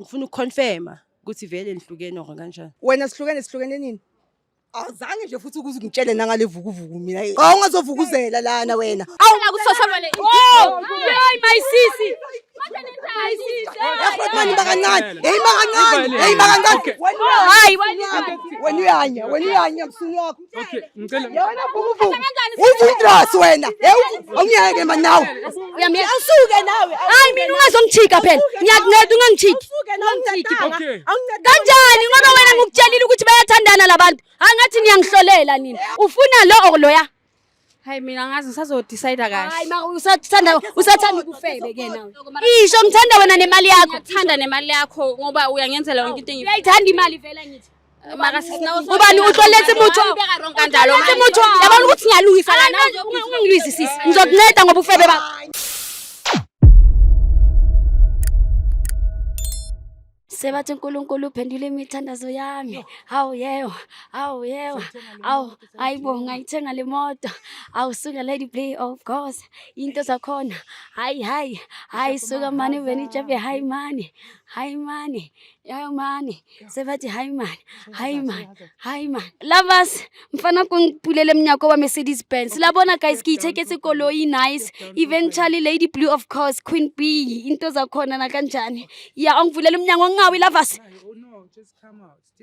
ngifuna ukuconfirma ukuthi vele nihlukene or kanjani wena sihlukene sihlukene nini awuzange nje futhi ukuze ungitshele nangalevukuvuku mina awungazovukuzela lana wena awula kusosamane oh hey my sisi Mani bakancane, hey bakancane, hey bakancane. Hayi wena uyanya, wena uyanya msunu wakho. Okay, ngicela. Yona vuvu. Uvundras wena. Awungeke manje nawe. Uyamyeka. Awusuke nawe. Hayi mina ungazongithika phela. Ngiyakunceda ungangithiki. Okay. Kanjani ngoba wena ngikutshelile ukuthi bayathandana labantu. Angathi niyangihlolela nina. Ufuna lo or loya? Hayi mina ngazi ngisazo decide kahle. Hayi ma usathanda usathanda ukufebe ke nawe. Isho ngithanda wena nemali yakho. Ngithanda nemali yakho ngoba uyangenzela yonke into engiyifunayo. Uyayithanda imali vela ngithi. Maka sisinawo. Ubani uhloletse mutho. Kanjalo manje mutho. Yabona ukuthi ngiyalungisa lana. Ungilwisi sisi. Ngizokunceda ngoba ufebe bakho. sebathi uNkulunkulu uphendule imithandazo yami hawu yewa hawu yewa awu ayibo ngayithenga le moto awu suka lady play of course into zakhona hayi hayi hayi suka mani veni jabe hayi mani hayi mani yayo mani sebathi hayi mani hayi mani hayi mani lovers mfana ko mpulele mnyako wa mercedes benz la bona guys ke itheketse koloi nice eventually lady blue of course queen b into zakhona nakanjani ya ongivulele umnyango ngingawi lavasi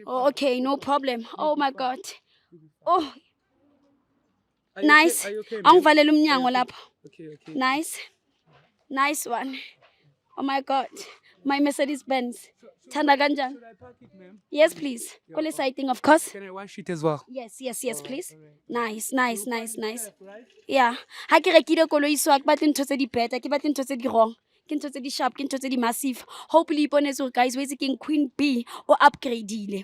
oh, okay no problem oh my god oh nice angivalele umnyango lapha nice Nice one. Oh my God. My Mercedes Benz. Thanda kanjani? Should I pack it, ma'am? Yes, please. Yeah, Kule okay. sighting, of course. Can I wash it as well? Yes, yes, yes, please. Nice, nice, nice, nice. Yeah. Ha ke rekile koloi so ha ke batle ntho tse di better, ke batle ntho tse di wrong. Ke ntho tse di sharp, ke ntho tse di massive. Hopefully iponetse hore guys, wetse keng Queen B o upgradeile.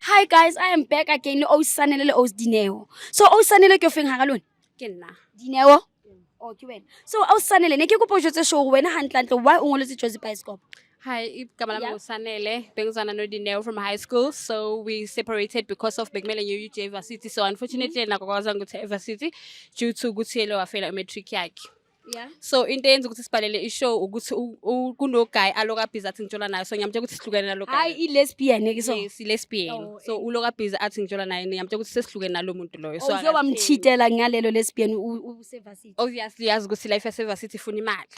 Hi guys, I am back again. O sanele le o Dineo. So o sanele ke ofeng hara lona? Ke nna. Dineo. Oh ke wena. So o sanele ne ke kopo jotse show wena hantlantle why o ngoletse Jozi Bioscope? Hi, igama lami ngusanele bengizwana nodineo from high school so we separated because of bekumele ngiye uj varsity so unfortunately mm -hmm. nakwakwazanga ukuthi evarsity due to ukuthi yele wafela imatric yakhe Yeah. So into eyenza ukuthi sibhalele ishow ukuthi kuno guy aloka busy athi ngitshola naye so ngiyamtshela ukuthi sihlukene nalo guy. Hayi i lesbian ke so. Yes, i lesbian. Oh, so eh. uloka busy athi ngitshola naye ngiyamtshela ukuthi sesihlukene nalo muntu loyo. So uyoba oh, mchitela ngalelo lesbian u service. Obviously yazi ukuthi life ya service ifuna imali.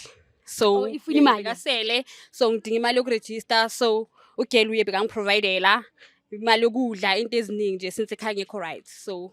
So oh, ifuna imali. Kasele so ngidinga imali yokuregister so ugel uye bekangiprovidela imali yokudla into eziningi nje since ekhaya ngekho right so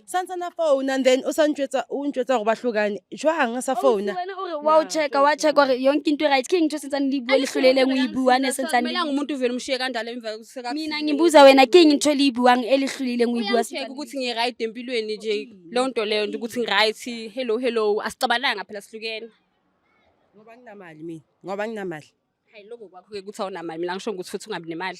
santsana founa and then o sa ntšwetsa o ntšwetsa gore ba tlhokane jwang a sa founa wena ore wa o checka wa checka gore yonke into right ke ntho sentsane le bua letlhole e leng o e bua ne sentsane le- Akumelanga umuntu uvele umshiye kanjalo emva kokuseka- mina ngibuza wena ke eng ntho le e buang e letlhole e leng o e bua Uyangicheck ukuthi ngi-right empilweni nje leyo nto leyo nje ukuthi ngi-right hello hello asixabananga phela sihlukene ngoba nginamali mina ngoba nginamali hayi loko kwakho-ke ukuthi awunamali mina ngisho ngokuthi futhi ungabi nemali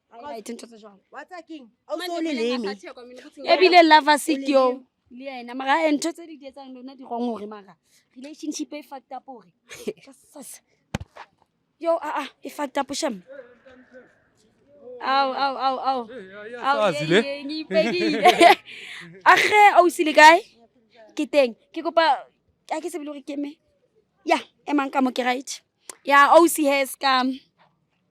ebile lava sekeo le ena mara eh, ntho tse di di etsang lona di gong gore mara relationship e fact up gore yo aa ah, ah, e fact up sham ao ao ao ao age ausi le kae ke teng ke kopa a ke sebele gore keme ya emang ka mo ke right ya ausi hes ka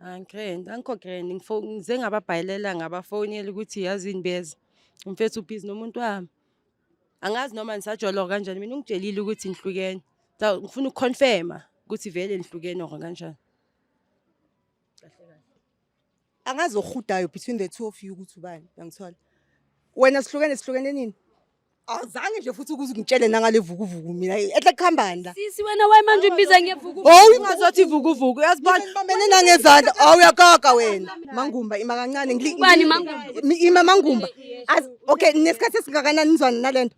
Angikrend, ah, angikho grand ngize ngababhayilela ngabafonela ukuthi yazi yini beza umfethu ubhizi nomuntu wami angazi noma nisajoloka kanjani mina ungitshelile ukuthi nihlukene so ngifuna ukuconfirma ukuthi vele nihlukene or kanjani angazi ohudayo between the two of you ukuthi ubani uyangithola wena sihlukene sihlukene nini Awuzange nje futhi ukuze ungitshele nangale vukuvuku mina. Ehle kuhambani la? Sisi wena waye manje ubiza ngevuku. Oh, ungazothi vukuvuku. Uyazibona bambene nangezandla. Oh, uyakoka wena. Mangumba ima kancane ngili. Ubani mangumba? Ima mangumba. As okay, nesikhathi esingakanani nizwana nalento?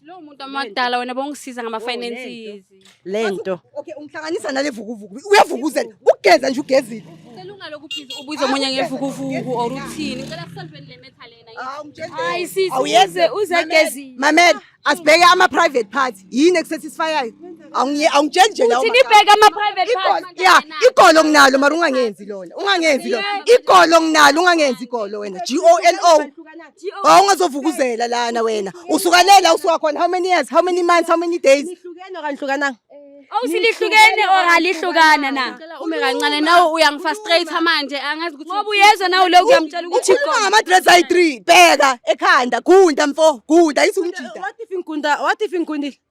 Lo muntu amadala wena bongisiza ngama finances. lento okay ungihlanganisa nale vukuvuku uyavukuzela ugeza nje ugezile selungalokhu please ubuze omunye ngevukuvuku or uthini ngicela kusolveni le matter lena hayi sisi awuyeze uzegezile mamela asibheke ama private parts yini ekusatisfyayo awungitsheli nje lawo nibheke ama private parts ya igolo nginalo mara ungangenzi lona ungangenzi lona igolo nginalo ungangenzi igolo wena G O L O Oh ungazovukuzela lana wena. Usukalela usuka khona how many years? How many months? How many days? Nihlukene okanye hlukananga? Awusilihlukene or alihlukana na? Ume kancane nawe uyangifrustrate manje angazi ukuthi Ngoba uyezwa nawe lokhu uyamtshela ukuthi Ukhuluma ngama-dress ayi-three bheka ekhanda gunda mfo gunda isumjida What if ingunda? What if ingundile?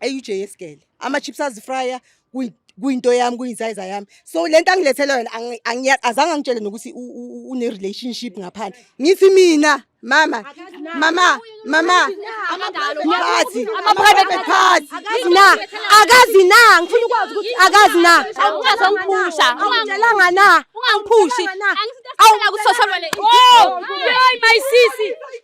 eUJ yesigele ama chips azifryer kuyinto yami kuyinsize yami so lento angilethela yona azange angitshele nokuthi une relationship ngaphandle ngithi mina mama mama mama party ama private party na akazi na ngifuna ukwazi ukuthi akazi na ungazongiphusha ungangelanga na ungangiphushi angisithatha ukuthi sosobele oh yoy my sisi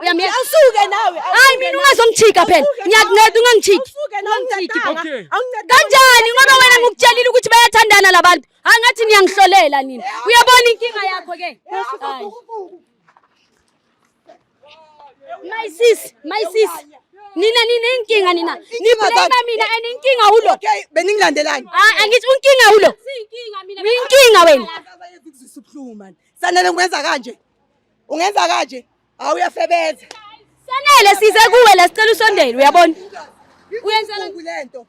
Uyamyeka. Awusuke nawe. Hayi mina ungazongithika phela. Ngiyakunceda ungangithiki. Ungangithiki. Okay. Kanjani ngoba wena ngikutshelile ukuthi bayathandana labantu. Hayi ngathi niyangihlolela nina. Uyabona inkinga yakho ke. Hayi. My sis, my sis. Nina nina inkinga nina. Niblame mina and inkinga ulo. Okay, beningilandelani? Ah, angithi unkinga ulo. Inkinga mina. Inkinga wena. Sanele ngikwenza kanje. ungenza kanje hawu uyafebeza sanele size kuwe la sicela usondele uyabona uyenzela lento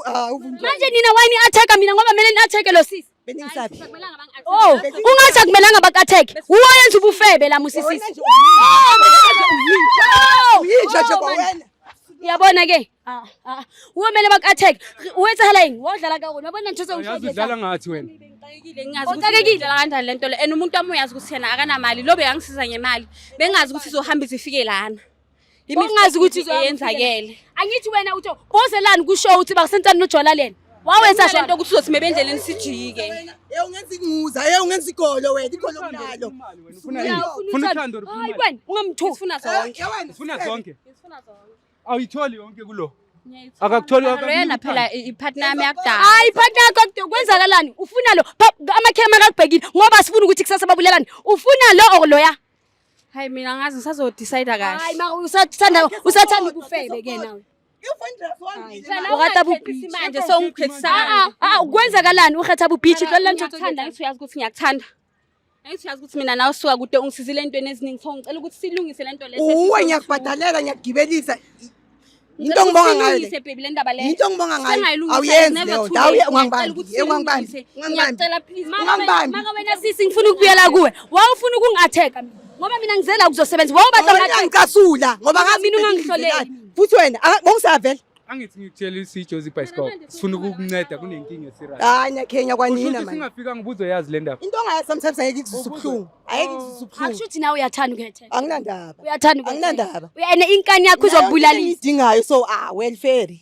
ah, manje nina wayini attack mina ngoba kumele ni attack lo sisi beningisaphi oh ungathi akumelanga bakatheke wuwe oyenza ubufebe la musisisi yinja nje kwawena uyabona ke Ah, ah. Uwe mele bak attack. Uwe etsahala yini? Wodlala ka wena. Yabona ngithosa ushaya. Uyazi udlala ngathi wena. Ngixakekile ngingazi ukuthi ngidlala kanjani lento le. And umuntu wami uyazi ukuthi yena akanamali. Lobe yangisiza ngemali. Bengazi ukuthi izohamba izifike lana. Bengazi ukuthi yenzakele. Angithi wena utho bozelani kusho ukuthi bakusentani nojwala lena. Wawenza nje into ukuthi uzothi mebendleleni sijike. Hey ungenza inguza, hey ungenza igolo wena, igolo kunalo. Ufuna uthando, ufuna. Hayi wena, ungamthuki. Ufuna zonke. Ufuna zonke. Ufuna zonke. Awuyitholi yonke kulo. Akakutholi wonke. Lena phela ipartner yami yakudala. Hayi ipartner yakho kwenzakalani? Ufuna lo amakhema akakubhekile ngoba sifuna ukuthi kusasa babulelane. Ufuna lo or loya? Hayi mina ngazi ngisazo decide kahle. Hayi maka usathanda usathanda ukufebe ke nawe. Ukwenzakalani ukhetha bubhithi lola nje uthanda ngithi uyazi ukuthi ngiyakuthanda Angithi uyazi ukuthi mina nawe suka kude ungisizile entweni eziningi so ngicela ukuthi silungise lento le. Uwe ngiyakubhadalela ngiyakugibelisa. Into ngibonga ngayo. Silungise baby le ndaba le. Into ngibonga ngayo. Awuyenzi leyo. Dawu ungangibambi. Ungangibambi. Ngiyacela please. Ungangibambi. Maka wena sisi ngifuna ukubuyela kuwe. Wawufuna ukungi-attack ngoba mina ngizela ukuzosebenza. Wawubaza ngicasula ngoba ngazi mina ungangihloleli. Futhi wena bongisavela. angithi ngikutshela isijozi ibhayisikobho sifuna ukukunceda kunenkinga esirayo hayi nyakhenya kwanina manje singafika ngibuzo yazi le ndaba into ongayazi sometimes ayeke ikuzisa ubuhlungu ayeke ikuzisa ubuhlungu akusho ukuthi nawe uyathanda ukuyethela anginandaba uyathanda anginandaba uyena inkani yakho izokubulala idingayo so ah welfare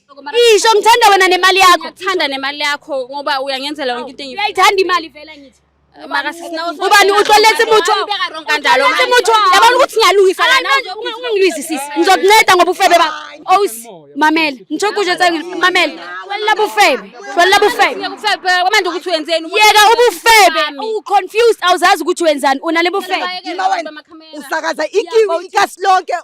isho ngithanda wena nemali yakho ngithanda nemali yakho ngoba uyangenzela yonke into engiyithanda uyayithanda imali vela ngithi ubani utloletse motho kanjalo ke motho yabona ukuthi ngiyalungisa lana ungangilizisisi ngizokunceda ngoba ufebe ba aus mamela ngitho kusho tsa mamela wella bufebe wella bufebe manje ukuthi wenzeni yeka ubufebe u confused awuzazi ukuthi wenzani unale bufebe usakaza ikiwi ikasilonke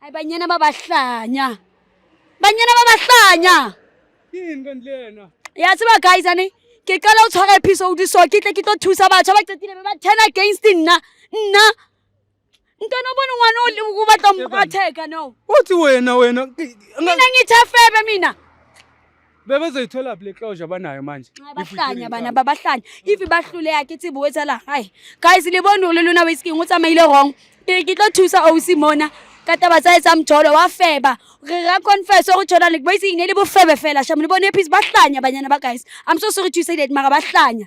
Hayi banyana babahlanya. Banyana babahlanya. Yini kanti lena? Ya tseba guys ane ke qala o tshwara episode so ke tle ke tlo thusa batho ba qetile ba turn against nna. Nna ntwana bona ngwana o batla mratheka no. Uthi wena wena. Mina ngithafebe mina. bebezoyithola phi le closure abanayo manje bahlanya bana babahlanya if bahlule yakhe ithi buwetha la hayi guys libona ululu na whisky ukuthi amayile wrong ke tlo thusa o simona ka taba tsa etsa mjolo wa feba re ra confess o tshona le boise ne le bofebe fela sha mo le bone phis bahlanya banyana ba guys i'm so sorry to say that mara bahlanya